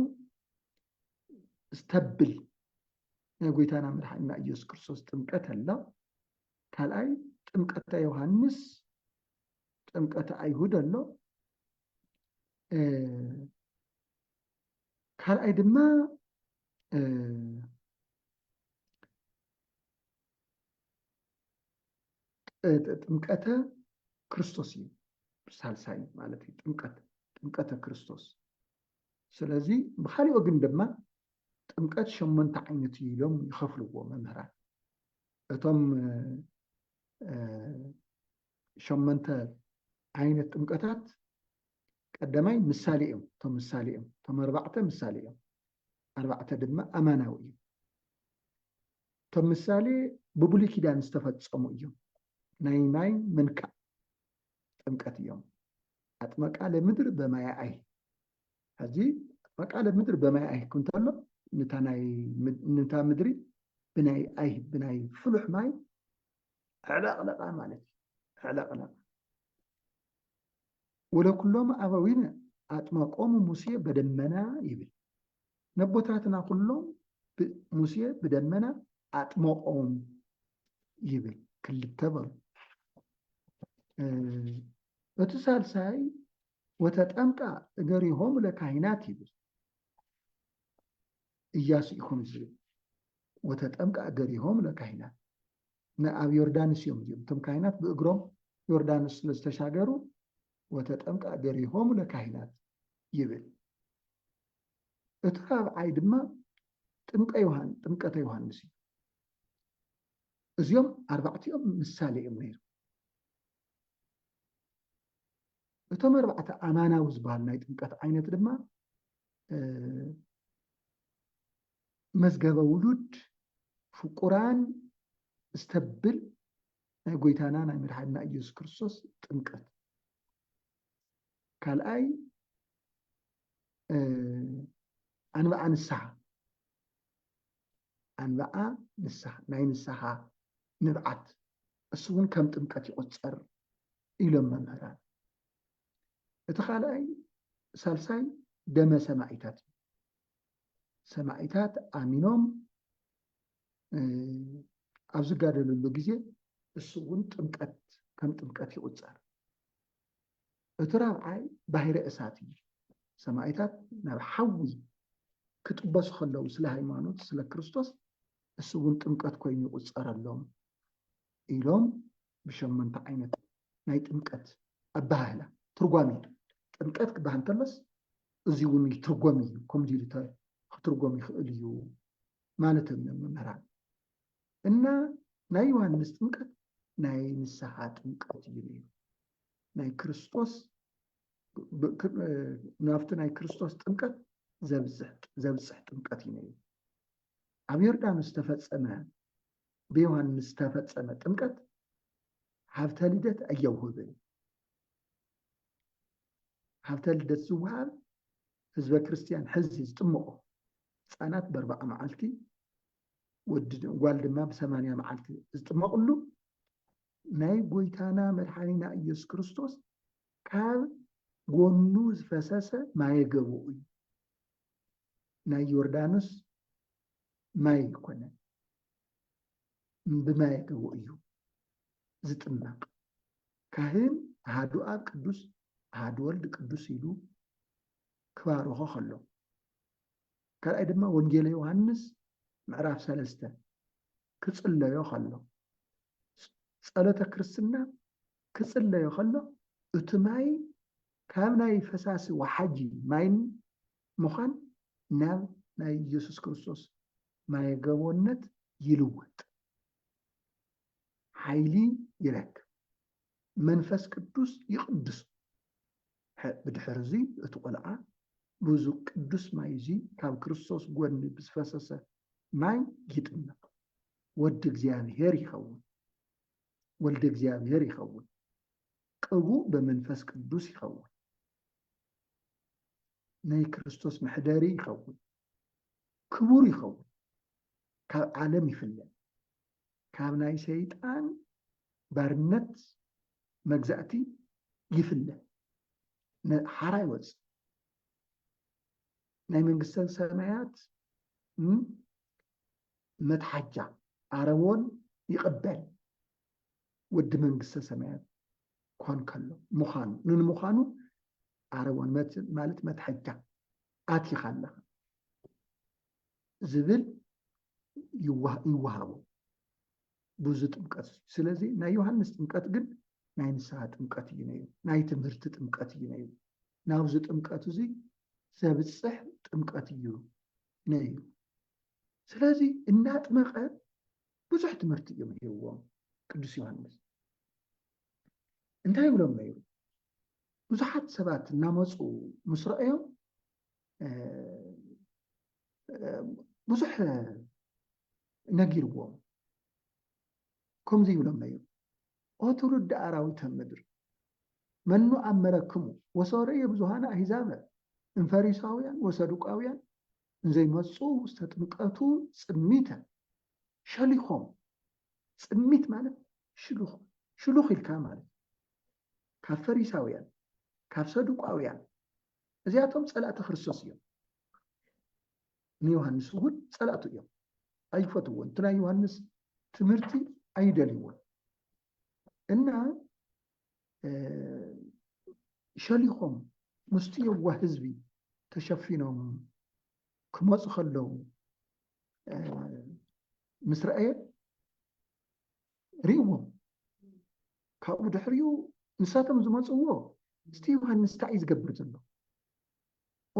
ዝተብል ናይ ጎይታና መድሓኒና ኢየሱስ ክርስቶስ ጥምቀት ኣላ። ካልኣይ ጥምቀተ ዮሃንስ ጥምቀተ ኣይሁድ ኣሎ ካልኣይ ድማ ጥምቀተ ክርስቶስ እዩ ሳልሳይ ማለት እዩ ጥምቀት ጥምቀተ ክርስቶስ ስለዚ ብካሊኦ ግን ድማ ጥምቀት ሸሞንተ ዓይነት እዩ ኢሎም ይኸፍልዎ መምህራን እቶም ሸመንተ ዓይነት ጥምቀታት ቀዳማይ ምሳሌ እዮም እቶም ምሳሌ እዮም እቶም ኣርባዕተ ምሳሌ እዮም ኣርባዕተ ድማ ኣማናዊ እዩ እቶም ምሳሌ ብብሉይ ኪዳን ዝተፈፀሙ እዮም ናይ ማይ ምንካእ ጥምቀት እዮም ኣጥመቃ ለምድር በማያኣይ ሕዚ ፈቃደ ምድሪ በማይ ኣይህክ እንተሎ ንታ ምድሪ ብናይ ኣይ ብናይ ፍሉሕ ማይ ዕለቕለቓ ማለት እዩ ዕለቕለቓ ወለኩሎም ኣበዊነ ኣጥመቆሙ ሙሴ በደመና ይብል ነቦታትና ኩሎም ሙሴ ብደመና ኣጥመቆም ይብል ክልተ በሉ እቲ ሳልሳይ ወተጠምቃ እገሪሆሙ ለካህናት ይብል እያሱ እዩ ከምኡ ዝብል ወተጠምቃ እገሪሆሙ ለካህናት ንኣብ ዮርዳኖስ እዮም እዚኦም እቶም ካህናት ብእግሮም ዮርዳኖስ ስለ ዝተሻገሩ ወተጠምቃ እገሪሆሙ ለካህናት ይብል እቲ ራብዓይ ድማ ጥምቀ ዮሃን ጥምቀተ ዮሃንስ እዩ እዚኦም ኣርባዕቲኦም ምሳሌ እዮም ነይሩ እቶም ኣርባዕተ ኣማናዊ ዝበሃል ናይ ጥምቀት ዓይነት ድማ መዝገበ ውሉድ ፍቁራን ዝተብል ናይ ጎይታና ናይ መድሓድና ኢየሱስ ክርስቶስ ጥምቀት ካልኣይ ኣንብዓ ንስሓ ኣንብዓ ንስሓ ናይ ንስሓ ንብዓት እሱ እውን ከም ጥምቀት ይቁፀር ኢሎም መምህራን። እቲ ካልኣይ ሳልሳይ ደመ ሰማዒታት እዩ። ሰማዒታት ኣሚኖም ኣብ ዝጋደልሉ ግዜ እሱ እውን ጥምቀት ከም ጥምቀት ይቁፀር። እቲ ራብዓይ ባሕሪ እሳት እዩ። ሰማዒታት ናብ ሓዊ ክጥበሱ ከለዉ ስለ ሃይማኖት ስለ ክርስቶስ እሱ እውን ጥምቀት ኮይኑ ይቁፀረሎም ኢሎም ብሸሞንተ ዓይነት ናይ ጥምቀት ኣበሃህላ ትርጓሜ ጥምቀት ክበሃል እንተሎስ እዚ እውን ይትርጎም እዩ ከምዚ ኢሉ ክትርጎም ይኽእል እዩ ማለቶም እዮም መምህራን እና ናይ ዮሃንስ ጥምቀት ናይ ንስሓ ጥምቀት እዩ ነይሩ ናይ ክርስቶስ ናብቲ ናይ ክርስቶስ ጥምቀት ዘብፅሕ ጥምቀት እዩ ነይሩ ኣብ ዮርዳኖስ ዝተፈፀመ ብዮሃንስ ዝተፈጸመ ጥምቀት ሃብተ ልደት ኣየውህብን። ሃብተ ልደት ዝወሃብ ህዝበ ክርስትያን ሕዚ ዝጥምቆ ህፃናት በርባዓ መዓልቲ ጓል ድማ ብሰማንያ መዓልቲ ዝጥመቕሉ ናይ ጎይታና መድሓኒና ኢየሱስ ክርስቶስ ካብ ጎኑ ዝፈሰሰ ማየገቡ እዩ። ናይ ዮርዳኖስ ማይ ኣይኮነን፣ ብማየ ተቦ እዩ ዝጥመቕ። ካህን ኣሃዱ ኣብ ቅዱስ ኣሃዱ ወልድ ቅዱስ ኢሉ ክባርኾ ከሎ፣ ካልኣይ ድማ ወንጌለ ዮሃንስ ምዕራፍ ሰለስተ ክጽለዮ ከሎ፣ ጸሎተ ክርስትና ክጽለዮ ከሎ እቲ ማይ ካብ ናይ ፈሳሲ ወሓጂ ማይን ምዃን ናብ ናይ ኢየሱስ ክርስቶስ ማየ ገቦነት ይልወጥ። ሓይሊ ይረክብ። መንፈስ ቅዱስ ይቕድሶ። ብድሕር እዙይ እቲ ቖልዓ ብዙ ቅዱስ ማይ እዙይ ካብ ክርስቶስ ጎድኒ ብዝፈሰሰ ማይ ይጥመቕ። ወዲ እግዚኣብሔር ይኸውን። ወልደ እግዚኣብሔር ይኸውን። ቅቡእ በመንፈስ ቅዱስ ይኸውን። ናይ ክርስቶስ መሕደሪ ይኸውን፣ ክቡር ይኸውን፣ ካብ ዓለም ይፍለ፣ ካብ ናይ ሰይጣን ባርነት መግዛእቲ ይፍለ፣ ሓራ ይወፅ ናይ መንግስተ ሰማያት መትሓጃ ኣረቦን ይቕበል ወዲ መንግስተ ሰማያት ኳን ከሎ ምዃኑ ንንምዃኑ ኣረወን መት ማለት መትሐጃ ኣቲኻ ኣለኻ ዝብል ይወሃቦ ብዙ ጥምቀት እዩ ስለዚ ናይ ዮሃንስ ጥምቀት ግን ናይ ንስሃ ጥምቀት እዩ ነዩ ናይ ትምህርቲ ጥምቀት እዩ ነዩ ናብዚ ጥምቀት እዙይ ዘብፅሕ ጥምቀት እዩ ነዩ ስለዚ እናጥመቐ ብዙሕ ትምህርቲ እዩ ምሂርዎም ቅዱስ ዮሃንስ እንታይ ይብሎም ነይሩ ብዙሓት ሰባት እናመፁ ምስ ረኣዮም ብዙሕ ነጊርዎም ከምዚ ይብሎም ነይሩ ኦ ትውልዲ ኣራዊተ ምድር መኑ ኣመረክሙ ወሰረየ ብዙሃን ኣሂዛበ እንፈሪሳውያን ወሰዱቃውያን እንዘይመፁ ዝተጥምቀቱ ፅሚተ ሸሊኾም ጽሚት ማለት ሽሉኽ ሽሉኽ ኢልካ ማለት ካብ ፈሪሳውያን ካብ ሰዱቃውያን እዚኣቶም ጸላእቲ ክርስቶስ እዮም ንዮሃንስ እውን ጸላእቱ እዮም ኣይፈትዎን እቲ ናይ ዮሃንስ ትምህርቲ ኣይደልይዎን እና ሸሊኾም ምስቲ የዋህ ህዝቢ ተሸፊኖም ክመፁ ከለዉ ምስ ረኣየ ርእዎም ካብኡ ድሕሪኡ ንሳቶም ዝመፅዎ እስቲ ዮሃንስ እንታይ እዩ ዝገብር ዘሎ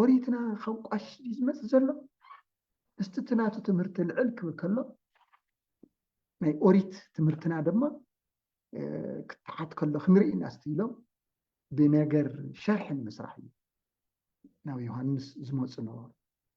ኦሪትና ካብ ቋሽ ድዩ ዝመፅእ ዘሎ እስቲ እቲ ናቱ ትምህርቲ ልዕል ክብል ከሎ ናይ ኦሪት ትምህርትና ድማ ክትሓት ከሎ ክንርኢ ኢና እስቲ ኢሎም ብነገር ሸርሒ ንምስራሕ እዩ ናብ ዮሃንስ ዝመፁ ነበሩ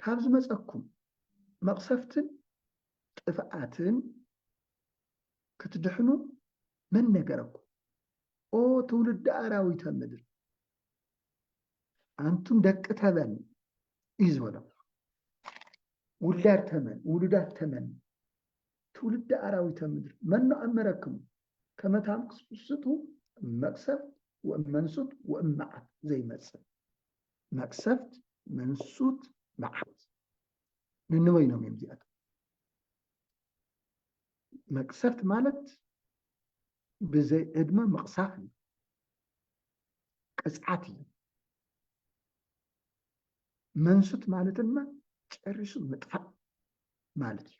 ካብ ዝመጸኩም መቕሰፍትን ጥፍኣትን ክትድሕኑ መን ነገረኩም? ኦ ትውልዲ ኣራዊተ ምድር ኣንቱም ደቂ ተመን እዩ ዝበሎም። ውላድ ተመን ውሉዳት ተመን ትውልዲ ኣራዊተ ምድር መኖ ኣመረክሙ ከመታም ክስስቱ መቅሰብ ወእመንሱት ወእመዓት ዘይመጽእ መቅሰፍት መንሱት መዓት ንንበይኖም እዮም እዚኣቶም መቅሰፍት ማለት ብዘይ ዕድመ ምቕሳፍ እዩ ቅፅዓት እዩ መንሱት ማለት ድማ ጨሪሱ ምጥፋእ ማለት እዩ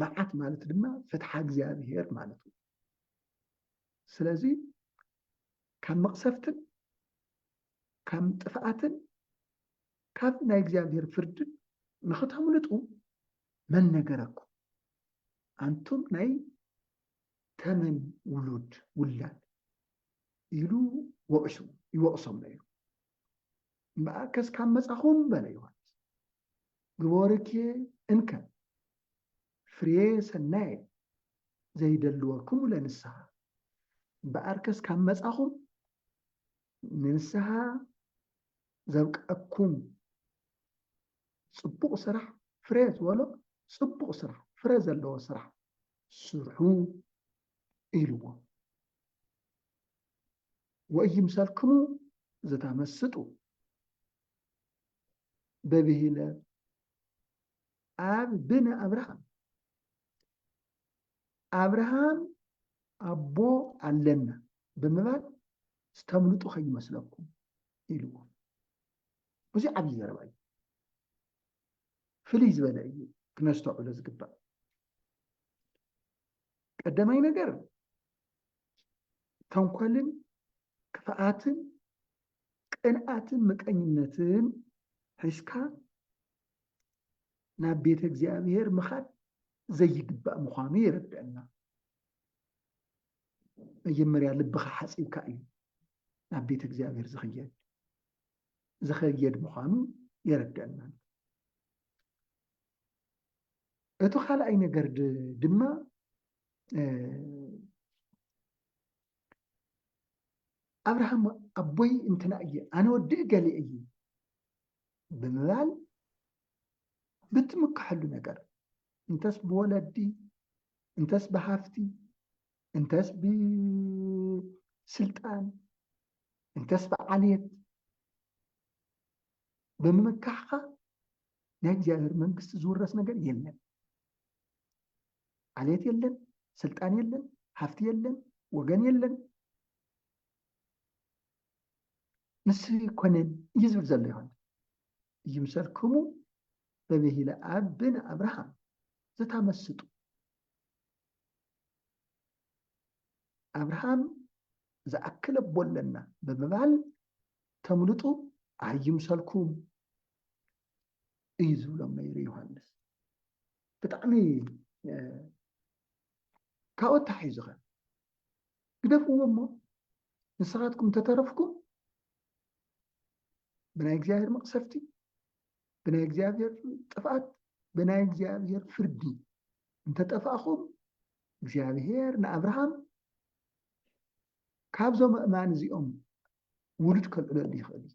መዓት ማለት ድማ ፍትሓ እግዚኣብሄር ማለት እዩ ስለዚ ካብ መቕሰፍትን ካብ ጥፍኣትን ካብ ናይ እግዚኣብሔር ፍርድን ንኽተምልጡ መን ነገረኩም? ኣንቱም ናይ ተመን ውሉድ ውላድ ኢሉ ወቂሱ ይወቅሶም ነዩ እምበኣርከስ ካብ መጻኹም በለ ዮሃንስ ግበርኬ እንከ ፍሬ ሰናይ ዘይደልወኩም ለንስሓ እምበኣርከስ ካብ መጻኹም ንንስሓ ዘብቀኩም ጽቡቕ ስራሕ ፍሬ ዝበሎ ጽቡቕ ስራሕ ፍረ ዘለዎ ስራሕ ስርሑ ኢልዎ ወኢይምሰልክሙ ዘታመስጡ በብሂለ ኣብ ብን ኣብርሃም ኣብርሃም ኣቦ ኣለና ብምባል ዝተምልጡ ከይመስለኩም ኢልዎ እዚ ዓብዪ ዘረባ እዩ ፍልይ ዝበለ እዩ ክነስተውዕሎ ዝግባእ ቀዳማይ ነገር ተንኮልን ክፍኣትን ቅንኣትን ምቀኝነትን ሒዝካ ናብ ቤተ እግዚኣብሔር ምኻድ ዘይግባእ ምዃኑ የረድአና። መጀመርያ ልብኻ ሓፂብካ እዩ ናብ ቤተ እግዚኣብሔር ዝኽየድ ዝኸየድ ምዃኑ የረድአና። እቲ ካልኣይ ነገር ድማ ኣብርሃም ኣቦይ እንትና እየ ኣነ ወዲ እገሌ እየ ብምባል ብትምከሐሉ ነገር እንተስ ብወለዲ እንተስ ብሃፍቲ እንተስ ብስልጣን እንተስ ብዓልየት ብምምካሕካ ናይ እግዚኣብሔር መንግስቲ ዝውረስ ነገር የለን። ዓልየት የለን፣ ስልጣን የለን፣ ሃፍቲ የለን፣ ወገን የለን። ንሱ ኣይኮነን እዩ ዝብል ዘሎ ዮሃንስ ይምሰልክሙ በብሂለ ኣብ ብን ኣብርሃም ዘታመስጡ ኣብርሃም ዝኣክል ኣቦ ኣለና ብምባል ተምልጡ ኣይምሰልኩም እዩ ዝብሎም ነይሩ ዮሃንስ ብጣዕሚ ካብኡ ኣተሓሒዙ ከ ግደፍዎ እሞ ንስኻትኩም ተተረፍኩም ብናይ እግዚኣብሔር መቕሰፍቲ ብናይ እግዚኣብሔር ጥፍኣት ብናይ እግዚኣብሔር ፍርዲ እንተጠፋእኹም እግዚኣብሔር ንኣብርሃም ካብዞም እማን እዚኦም ውሉድ ከልዕለሉ ይኽእል እዩ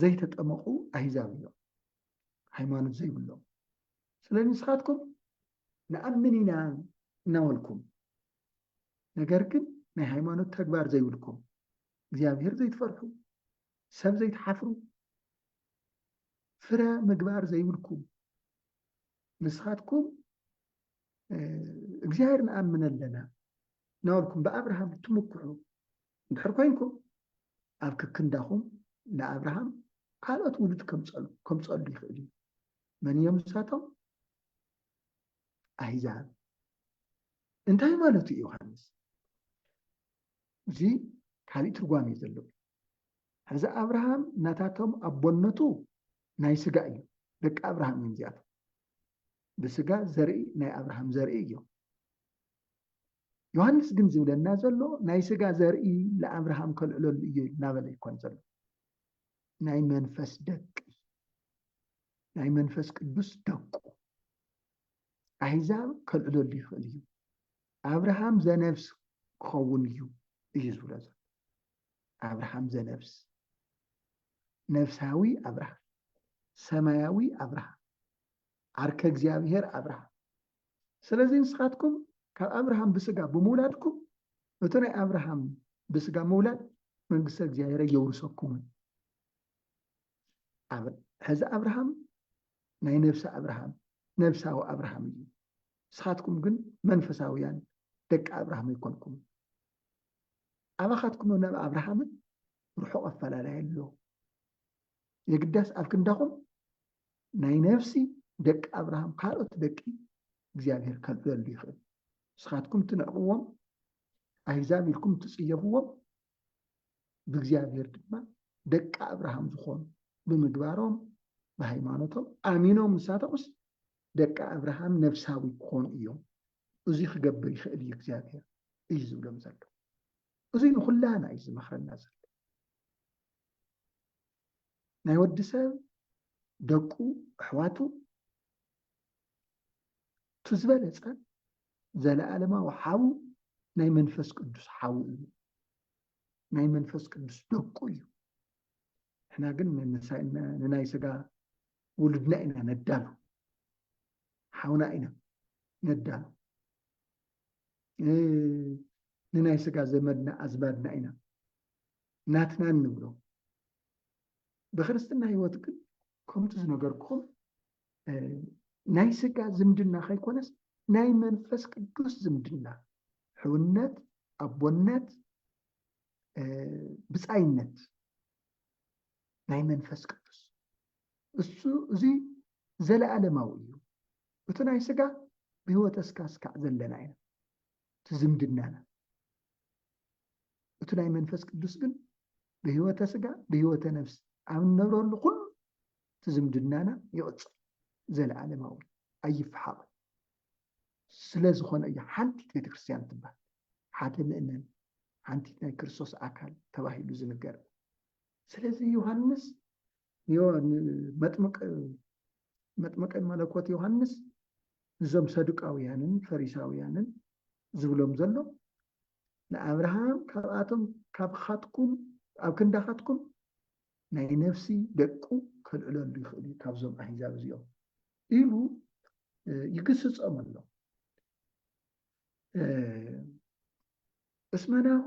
ዘይተጠመቁ ኣህዛብ እዮም ሃይማኖት ዘይብሎም ስለዚ ንስኻትኩም ንኣምን ኢና እናበልኩም ነገር ግን ናይ ሃይማኖት ተግባር ዘይብልኩም እግዚኣብሔር ዘይትፈርሑ ሰብ ዘይትሓፍሩ ፍረ ምግባር ዘይብልኩም ንስኻትኩም እግዚኣብሔር ንኣምን ኣለና እናበልኩም ብኣብርሃም ትምክሑ እንድሕር ኮይንኩም ኣብ ክክንዳኹም ንኣብርሃም ካልኦት ውሉድ ከምፀሉ ይኽእል እዩ። መን እዮም ንሳቶም? ኣህዛብ። እንታይ ማለቱ እዩ ዮሃንስ? እዚ ካሊእ ትርጓሜ እዩ ዘለዎ። ሕዚ ኣብርሃም ናታቶም ኣቦነቱ ናይ ስጋ እዩ። ደቂ ኣብርሃም እዮም እዚኣቶም። ብስጋ ዘርኢ ናይ ኣብርሃም ዘርኢ እዮም። ዮሃንስ ግን ዝብለና ዘሎ ናይ ስጋ ዘርኢ ንኣብርሃም ከልዕለሉ እዩ እናበለ ይኮን ዘሎ ናይ መንፈስ ደቂ ናይ መንፈስ ቅዱስ ደቁ ኣሕዛብ ከልዕለሉ ይኽእል እዩ ኣብርሃም ዘነብስ ክኸውን እዩ እዩ ዝብሎ ዘሎ ኣብርሃም ዘነብስ ነፍሳዊ ኣብርሃም ሰማያዊ ኣብርሃም ዓርከ እግዚኣብሔር ኣብርሃም ስለዚ ንስኻትኩም ካብ ኣብርሃም ብስጋ ብምውላድኩም እቲ ናይ ኣብርሃም ብስጋ ምውላድ መንግስተ እግዚኣብሔር የውርሰኩምን ሕዚ ኣብርሃም ናይ ነብሲ ኣብርሃም ነብሳዊ ኣብርሃም እዩ ንስኻትኩም ግን መንፈሳውያን ደቂ ኣብርሃም ኣይኮንኩም ኣባኻትኩም ናብ ኣብርሃምን ርሑቕ ኣፈላላይ ኣሎ የግዳስ ኣብ ክንዳኹም ናይ ነፍሲ ደቂ ኣብርሃም ካልኦት ደቂ እግዚኣብሔር ከብለሉ ይኽእል ንስኻትኩም ትንዕቕዎም ኣህዛብ ኢልኩም ትጽየፍዎም ብእግዚኣብሔር ድማ ደቂ ኣብርሃም ዝኾኑ ብምግባሮም ብሃይማኖቶም ኣሚኖም ንሳቶምስ ደቂ ኣብርሃም ነፍሳዊ ክኾኑ እዮም እዚ ክገብር ይኽእል እዩ እግዚኣብሔር እዩ ዝብሎም ዘሎ እዚ ንኩላና እዩ ዝመኽረና ዘሎ ናይ ወዲ ሰብ ደቁ ኣሕዋቱ እቲ ዝበለፀ ዘለኣለማዊ ሓው ናይ መንፈስ ቅዱስ ሓው እዩ ናይ መንፈስ ቅዱስ ደቁ እዩ ንሕና ግን ንናይ ስጋ ውሉድና ኢና ነዳሉ ሓውና ኢና ነዳሉ ንናይ ስጋ ዘመድና ኣዝማድና ኢና ናትና እንብሎ ብክርስትና ህይወት ግን ከምቲ ዝነገርኩም ናይ ስጋ ዝምድና ከይኮነስ ናይ መንፈስ ቅዱስ ዝምድና ሕውነት፣ ኣቦነት፣ ብፃይነት ናይ መንፈስ ቅዱስ እሱ እዚ ዘለኣለማዊ እዩ። እቲ ናይ ስጋ ብህይወተ ስጋ ስካዕ ዘለና ኢና እቲ ዝምድናና እቲ ናይ መንፈስ ቅዱስ ግን ብህይወተ ስጋ ብህይወተ ነፍስ ኣብ እንነብረሉ ኩሉ እቲ ዝምድናና ይቕፅል ዘለኣለማዊ ኣይፈሓቕን ስለ ዝኾነ እዩ ሓንቲት ቤተክርስትያን ትባል ሓደ ምእመን ሓንቲት ናይ ክርስቶስ ኣካል ተባሂሉ ዝንገር ስለዚ ዮሃንስ መጥምቀ መለኮት ዮሃንስ ንዞም ሰዱቃውያንን ፈሪሳውያንን ዝብሎም ዘሎ ንኣብርሃም ካብኣቶም ካብኻትኩም ኣብ ክንዳኻትኩም ናይ ነፍሲ ደቁ ከልዕለሉ ይኽእል እዩ ካብዞም ኣሂዛብ እዚኦም ኢሉ ይግስፆም ኣሎ እስመናሁ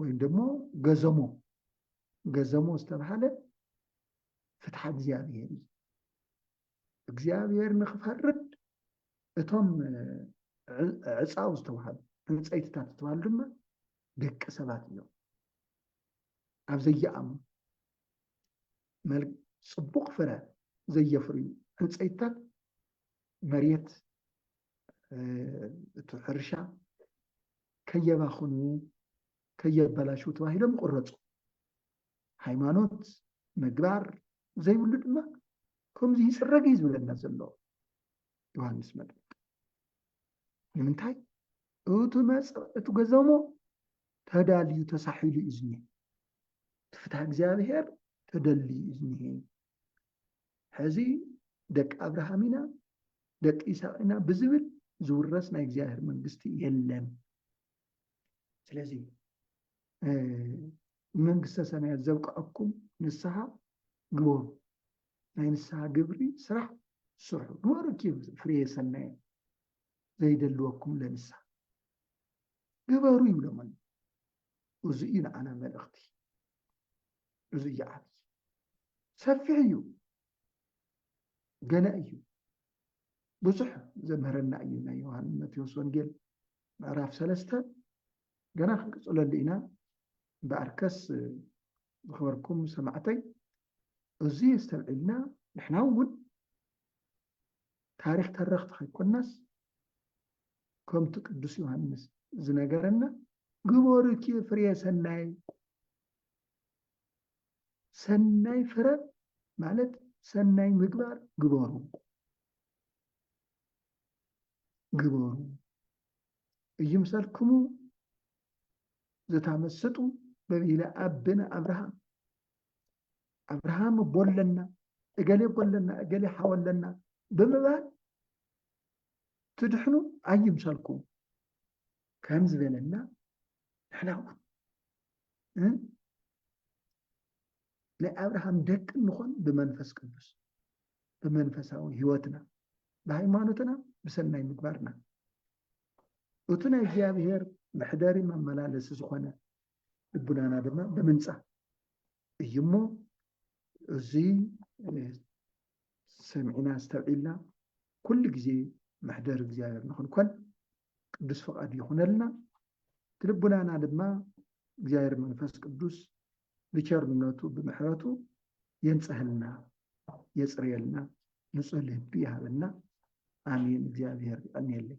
ወይም ደሞ ገዘሞ ገዘሞ ዝተባሃለ ፍትሓ እግዚኣብሔር እዩ እግዚኣብሔር ንክፈርድ እቶም ዕፃው ዝተባሃሉ ዕንፀይትታት ዝተባሃሉ ድማ ደቂ ሰባት እዮም ኣብ ዘየኣሙ ፅቡቅ ፍረ ዘየፍርዩ ዕንፀይትታት መሬት እቲ ሕርሻ ከየባኽኑ ከየበላሹ ተባሂሎም ይቁረፁ። ሃይማኖት ምግባር ዘይብሉ ድማ ከምዚ ይፅረግ እዩ ዝብለና ዘሎ ዮሃንስ መጥምቅ። ንምንታይ እቲ መፅእ እቲ ገዘሞ ተዳልዩ ተሳሒሉ እዩ ዝኒሀ እቲ ፍትሃ እግዚኣብሄር ተደልዩ እዩ ዝኒሀ ሕዚ ደቂ ኣብርሃም ኢና ደቂ ይስሐቅ ኢና ብዝብል ዝውረስ ናይ እግዚኣብሔር መንግስቲ የለን ስለዚ ንመንግስተ ሰማያት ዘብቅዐኩም ንስሓ ግበሩ ናይ ንስሓ ግብሪ ስራሕ ስርሑ ግበሩ ኪ ፍሬ ሰናየ ዘይደልወኩም ለንስሓ ግበሩ ይብሎም ኣሎ እዚ እዩ ንዓና መልእኽቲ እዚ እዩ ዓብዪ ሰፊሕ እዩ ገና እዩ ብዙሕ ዘምህረና እዩ ናይ ዮሃን መቴዎስ ወንጌል ምዕራፍ ሰለስተ ገና ክንቅፅለሉ ኢና እምበኣርከስ ዝኸበርኩም ሰማዕተይ እዚ የስተብዒልና ንሕና እውን ታሪክ ተረኽቲ ከይኮናስ ከምቲ ቅዱስ ዮሃንስ ዝነገረና ግበሩ ፍሬ ሰናይ ሰናይ ፍረ ማለት ሰናይ ምግባር ግበሩ ግበሩ እይምሰልክሙ ዘታመስጡ በብሂለ ኣብነ ኣብርሃም ኣብርሃም ቦለና እገሌ ቦለና እገሌ ሓወለና ብምባል ትድሕኑ ኣይምሰልኩም ከም ዝበለና ንሕና እውን ናይ ኣብርሃም ደቂ እንኾን ብመንፈስ ቅዱስ ብመንፈሳዊ ህይወትና ብሃይማኖትና ብሰናይ ምግባርና እቲ ናይ እግዚኣብሔር መሕደሪ መመላለሲ ዝኾነ ልቡናና ድማ ብምንፃ እዩ እሞ እዚ ሰሚዕና ዝተብዒልና ኩሉ ግዜ መሕደሪ እግዚኣብሔር ንክንኮን ቅዱስ ፍቃዱ ይኹነልና። እቲ ልቡናና ድማ እግዚኣብሔር መንፈስ ቅዱስ ብቸርነቱ ብምሕረቱ የንጽህልና፣ የጽርየልና፣ ንጹህ ልቢ ይሃበና። ኣሜን። እግዚኣብሔር ይቀንየለይ።